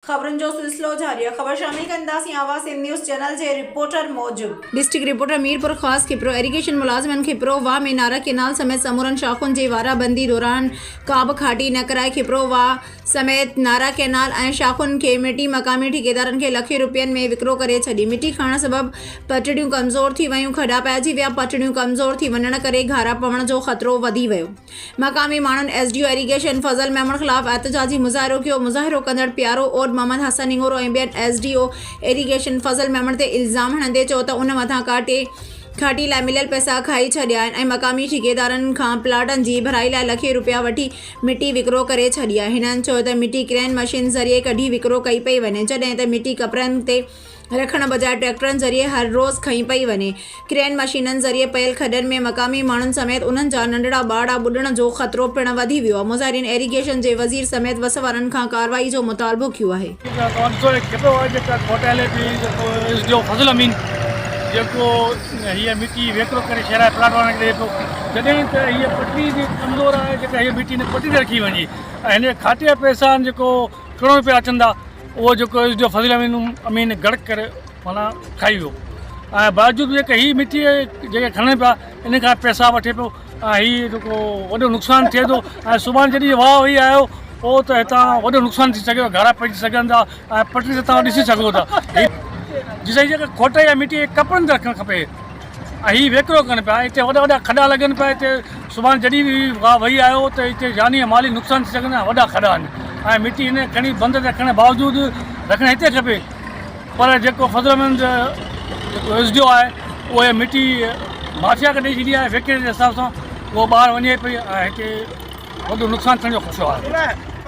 خبرن جو سلسلو جاري آهي خبر شامل ڪنداسين آواز سنڌ نيوز چينل جي رپورٽر موجب. District reporter Mirpurkhas Khipro irrigation ملازمن کپرو واھ ۾ نارا ڪينال سميت سمورن شاخن جي وارا بندي دوران ڪابه کاٽي نه ڪرائي کپرو واھ سميت نارا ڪينال ۽ شاخن کي مٽي مقامي ٺيڪيدارن کي لکين روپين ۾ وڪرو ڪري ڇڏي مٽي کڻڻ سبب پٽڙيون ڪمزور ٿي ويون کڏا پئجي ويا پٽڙيون ڪمزور ٿي وڃڻ ڪري گھارا پوڻ جو خطرو وڌي ويو. مقامي ماڻهن S D O irrigation Fazal Memon خلاف احتجاجي مظاهرو ڪيو، مظاهرو ڪندڙ پيارو اورڊ محمد حسن نڱورو ۽ ٻين S D O irrigation Fazal Memon تي الزام هڻندي چيو ته ان مٿان ڪاٽي کاٽي لاء مليل پئسا کائي ڇڏيا آهن ۽ مقامي ٺيڪيدارن کان پلاٽن جي ڀرائي لاء لکين رپيا وٺي مٽي وڪرو ڪري ڇڏي آهي، هنن چيو ته مٽي ڪرين مشين ذريعي ڪڍي وڪرو ڪئي پئي وڃي جڏهن ته مٽي ڪپرن تي رکڻ بجاء ٽريڪٽرن ذريعي هر روز کنئي پئي وڃي. ڪرين مشينن ذريعي پيل کڏن ۾ مقامي ماڻهن سميت انهن جا ننڍڙا ٻارڙا ٻڏڻ جو خطرو پڻ وڌي ويو آهي. مظاهرين ايريگيشن جي وزير سميت وس وارن کان ڪارروائي جو مطالبو ڪيو آهي. ڪروڙ روپيا اچن ٿا اهو جيڪو اس جو فضل امين گڙڪ ڪري معنيٰ کائي ويو ۽ باوجود جيڪا هي مٽي جيڪي کڻن پيا ان کان پيسا وٺي پيو ۽ هي جيڪو وڏو نقصان ٿئي ٿو ۽ سڀاڻي جڏهن واهه وهي آيو پوء ته هتان وڏو نقصان ٿي سگهي ٿو گهرا پئجي سگهن ٿا ۽ پٽڙي تي تان ڏسي سگهو ٿا جي سائين جيڪا کوٽ يا مٽي ڪپڙن تي رکڻ کپي هي ويڪرو ڪن پيا اتي وڏا وڏا کڏا لڳن پيا اتي سڀان جڏهن به گاهه وهي آيو ته اتي جاني ۽ مالي نقصان ٿي سگهن ها وڏا کڏا آهن ۽ مٽي هن کڻي بند رکڻ باوجود رکڻ هتي کپي پر جيڪو فضلمند جيڪو ايس ڊي او آهي اهي مٽي مافيا کي ڏئي ڇڏي آهي ويڪري جي حساب سان اهو ٻاهر وڃي پئي ۽ هتي وڏو نقصان ٿيڻ جو خدشو آهي